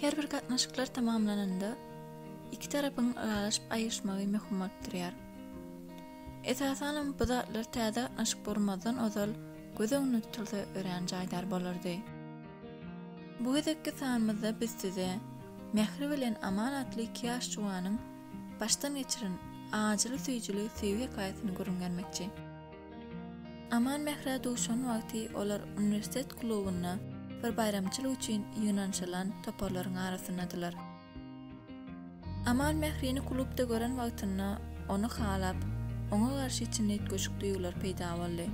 Her bir gatnaşyklar tamamlananda, iki tarapyň ylalaşyp aýryşmagy möhüm bolup durýar. Esasanam bu zatlar täze gatnaşyk gurmazdan ozal göz öňünde tutulsa örän jaýdar bolardy. Bu gezekki sanymyzda biz size Mähri bilen Aman atly iki ýaş juwanyň başdan geçiren ajyly-süýjüli söýgi hekaýasyny gürrüň bermekçi. Aman Mährä duşan wagty olar uniwersitet klubynda bir baýramçylyk üçin ýygnanyşylan toparlaryň arasyndadylar. Amal Mährini klubda gören wagtynda ony halap, oňa garşy içinde üýtgeşik duýgular peýda boldy.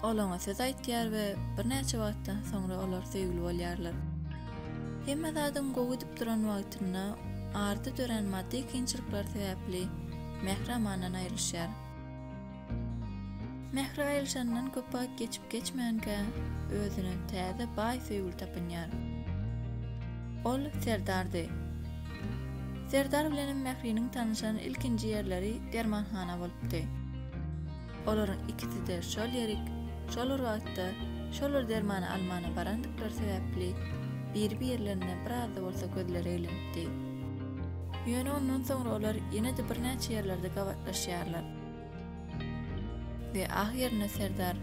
Ol oňa söz aýtýar we birnäçe wagtdan soňra olar söýgüli bolýarlar. Hemme zadyň gowy gidip duran wagtynda arda dörän maddy kynçylyklar sebäpli Mähri Amandan aýrylyşýar. Mähri aýrylyşandan köp wagt geçip-geçmänkä, özüne täze baý söýgüli tapynýar. Ol Serdardy. Serdar bilenem Mähriniň tanyşan ilkinji ýerleri dermanhana bolupdy. Olaryň ikisi-de şol ýerik, şol bir wagtda, şol bir dermany almana barandyklary sebäpli biri-birlerine biraz-da bolsa gözleri eglenipdi. Ýöne ondan soňra olar ýene-de birnäçe ýerlerde gabatlaşýarlar. We ahyrynda serdar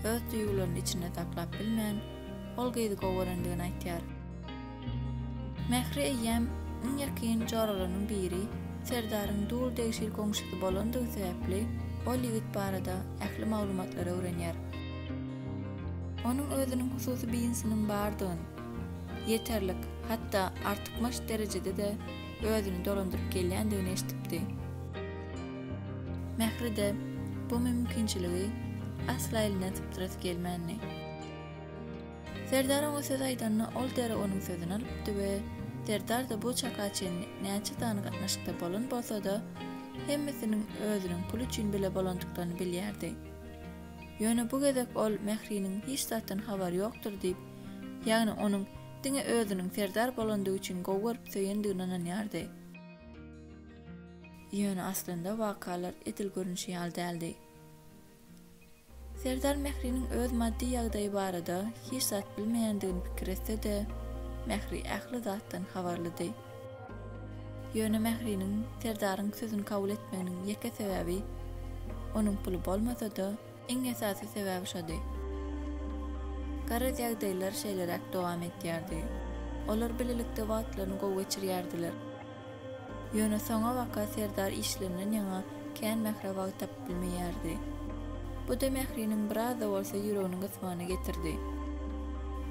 öz duýgularyny içinde saklap bilmän, ol gyzy gowy görendigini aýtýar. Mähri eýýäm iň ýakyn joralarynyň biri, serdaryň dul degşir goňşusy bolandygy sebäpli ol ýigit barada ähli maglumatlary öwrenýär. Onuň özüniň hususy bizinsiniň bardygyny, ýeterlik, hatda artykmaç derejede-de özüni dolandyryp gelýändigini eşidipdi. Mähride bu mümkinçiligi asla elinden sypdyrasy gelmändi. Serdar oňa söz aýdanda ol derrew onuň sözüni alypdy we Serdar-da bu çaka çenli näçe sany gatnaşykda bolan bolsa-da, hemmesiniň özüniň pul üçin bile bolandyklaryny bilýärdi. Ýöne bu gezek ol Mähriniň hiç zatdan habary ýokdur diýip, ýagny onuň Diňe özüniň serdar bolandygy üçin gowy görüp söýendigine ynanýardy. Ýöne aslynda wakalar edil görnüşi ýaly däldi. Serdar Mähriniň öz maddy ýagdaýy barada hiç zat bilmeýändigini pikir etse-de, Mähri ähli zatdan habarlydy. Ýöne Mähriniň Serdaryň sözüni kabul etmeginiň ýeke sebäbi, onuň puly bolmasa-da, Iň esasy sebäbi şody. Garaz ýagdaýlar şeýleräk dowam etýärdi. Olar bilelikde wagtlaryny gowy geçirýärdiler. Ýöne soňabaka Serdar işlerinden ýaňa kän Mährä wagt tapyp bilmeýärdi. Bu-da Mähriniň biraz-da bolsa ýüregini gysmagyna getirdi.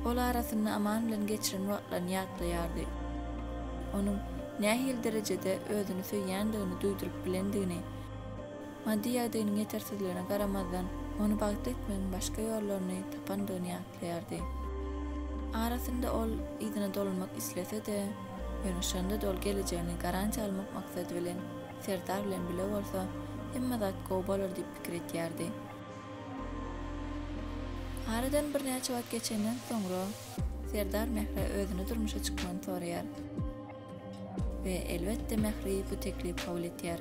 Ol arasynda Aman bilen geçiren wagtlaryny ýatlaýardy. Onuň nähili derejede özüni söýýändigini duýduryp bilendigini, Maddy ýagdaýynyň ýetersizligine garamazdan, ony bagtly etmegiň başga ýollaryny tapandygyny ýatlaýardy. Arasynda ol yzyna dolanmak islese-de, ýöne şonda-da ol gelejegini garantiýa almak maksady bilen Serdar bilen bile bolsa, hemme zat gowy bolar diýip pikir etýärdi. Aradan birnäçe wagt geçenden soňra Serdar Mährä özüni durmuşa çykmagyny soraýar. We elbetde Mähri bu teklibi kabul etýär.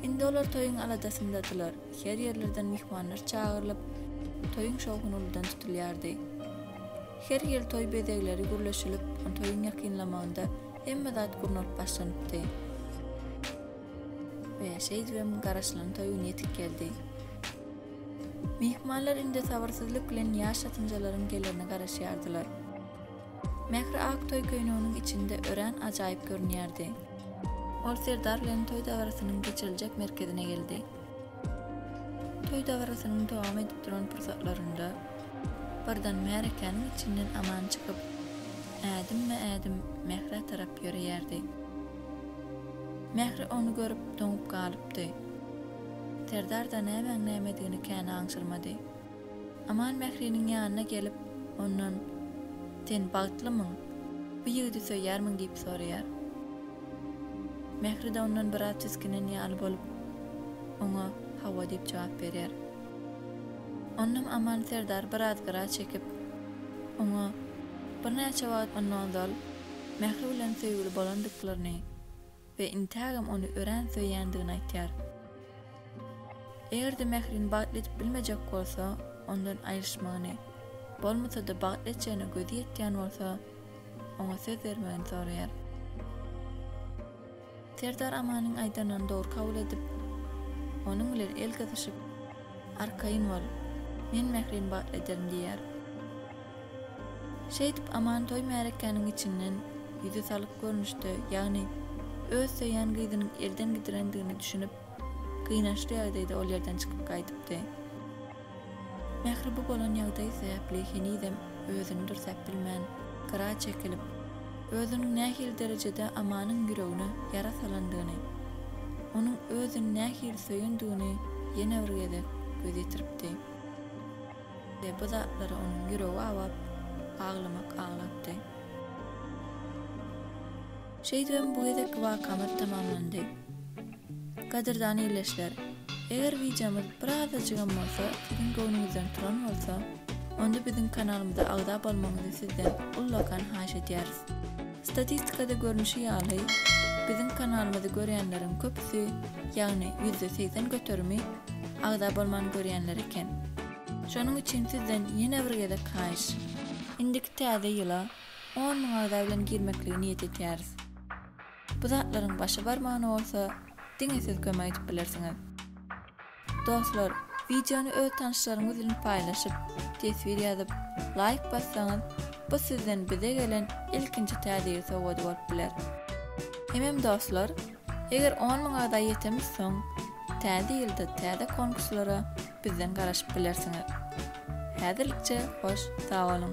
Indi olar toýuň aladasyndadylar, her ýerlerden myhmanlar çagyrylyp, toýuň şowhuny uludan tutulýardy. Her ýyl toý bezegleri gürleşilip, toýuň ýakynlamagynda hemme zat gurnalyp başlanypdy. We şeýdibem garaşylan toý güni ýetip geldi. Myhmanlar indi sabyrsyzlyk bilen ýaş ýatynjalaryň gelerine garaşýardylar. Mähri ak toý köýneginiň içinde örän ajaýyp görünýärdi. Ol Serdar bilen toý dabarasynyň geçiriljek merkezine geldi. Toý dabarasynyň dowam edip duran pursatlarynda birden märekäniň içinden Aman çykyp, ädimme-ädim Mährä tarap ýöreýärdi. Mähri ony görüp doňup galypdy. Serdar-da nämäň nämedigini kän aňşyrmady. Aman Mähriniň ýanyna gelip, ondan, Sen bagtlymyň? Bu ýigidi söýýärmiň? diýip soraýar. Mähri-de ondan biraz tisginen ýaly bolup, oňa Hawa diýip jogap berýär. Onam Aman serdar biraz gyra çekip, oňa birnäçe wagt ondan ozal Mähri bilen söýgüli bolandyklaryny, we intägem ony örän söýýändigini aýtýar. Eger-de Mährini bagtly edip bilmejek bolsa, ondan aýryşmagyny, bolmasa-da bagtly etjegine gözi ýetýän bolsa, oňa söz bermegini soraýar. Serdar Amanyň aýdanlaryny dogry kabul edip, onuň bilen el gysyşyp, Arkaýyn bol, men Mährini bagtly ederin diýýär. Şeýdip, Amantoý märekäniň içinden ýüzi salyk görnüşde, ýagny öz söýýän gyzynyň elden gidilendigine düşünip, gynançly ýagdaýda ol ýerden çykyp gaýdypdy. Mähri bu bolan ýagdaýy sebäpli henizem özüni dürsäp bilmän, gyra çekilip, özüniň nähili derejede Amanyň ýüregine ýara salandygyny, onuň özüni nähili söýendigini ýene bir gezek göz ýetiripdi. We bu zatlara onuň ýüregi awap, aglamak aglapdy. Şeýdibem bu gezekki wakamyz tamamlandy. Gadyrdan ildeşler, eger wideomyz bir azajygam bolsa siziň göwnüňizden turan bolsa, onda biziň kanalymyza agza bolmagyňyzy sizden ullakan haýyş edýäris. Statistikada görnüşi ýaly, biziň kanalymyzy görýänleriň köpüsi, ýagny ýüzde segsen göterimi agza bolman görýänler eken. Şonuň üçin sizden ýene bir gezek haýyş. Indiki täze ýyla on müň agza bilen girmekligi niýet etýäris. Bu zatlaryň başy barmagna bolsa diňe siz kömek edip bilersiňiz. Dostlar, wideony öz tanyşlaryňyz bilen paýlaşyp, teswir ýazyp, laýk bassaňyz, bu sizden bize gelen ilkinji Täze ýyl sowgady bolup biler. Hemem dostlar, eger on müň agza ýetemiz soň, Täze ýylda täze konkurslara bizden garaşyp bilersiňiz. Häzirlikçe hoş sag boluň!